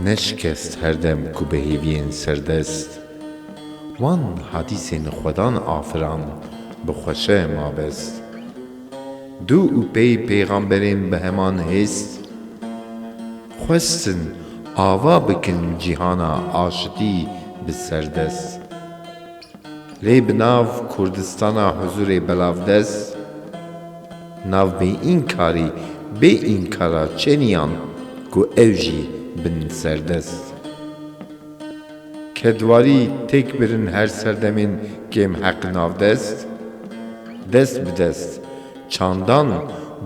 Ne şikest her dem ku bi hêviyên serdest wan hadîsên xwedan afiran bi xweşe ma best. Dû û pey pêxamberên bi heman hêst. Xwestin ava bikin cîhana aşitî bi serdest. Lê bi nav Kurdistana huzûrê belavdest, nav bêînkarî bê înkara çeniyan ku ew jî bin serdest. Kedwarî têk birin her serdemên kêmheq navdest, dest bi dest, çandan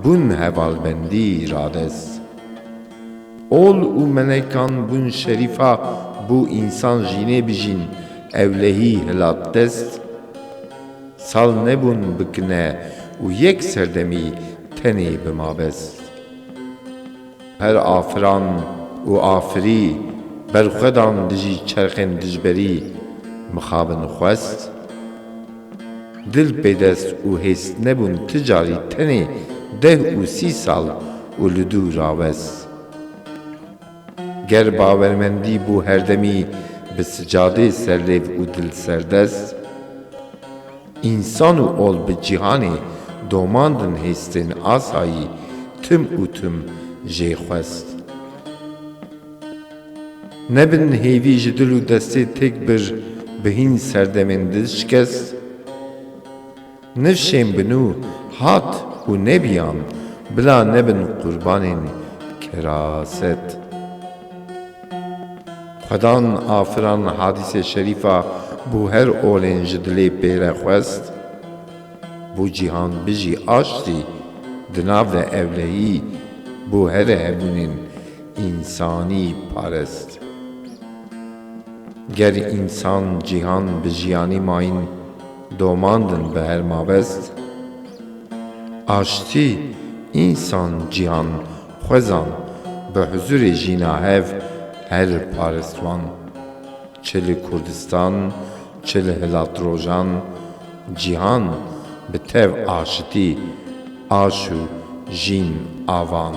bûn hevalbendî radest. Ol û melekan bûn şerîfa bû însan jînê bijîn ewlehî hilatdest sal nebûn bikine û yek serdemî tenê bi mabest. Her afiran û afirî berxwedan dijî çerxên dijberî mixabin xwest. Dil pêdest û hês nebûn ti carî tenê deh û sî sal û li dû rawes. Ger bawermendî bû herdemî bi sicadê serlêv û dil serdest, însan û ol bi cîhanê domandin hêstên asayî tim û tim jê xwest. Nebin hêvî ji dil û destê têk bir bi hîn serdemên dil şikest. Nifşên bi nû hat û nebiyan bila nebin qurbanên keraset. Xwedan afiran hadîse şerîfa bû her olên ji dilê pêre xwest. Bû cîhan bijî aştî di nav de ewlehî bû here hebûnên însanî parest. Ger însan cîhan bi jiyanî mayîn domandin bi her mabest. Aştî însan cîhan xwezan bi huzurê jîna hev her parestwan. Çi li Kurdistan çi li hilatrojan cîhan bi tev aşitî aş û jîn avan.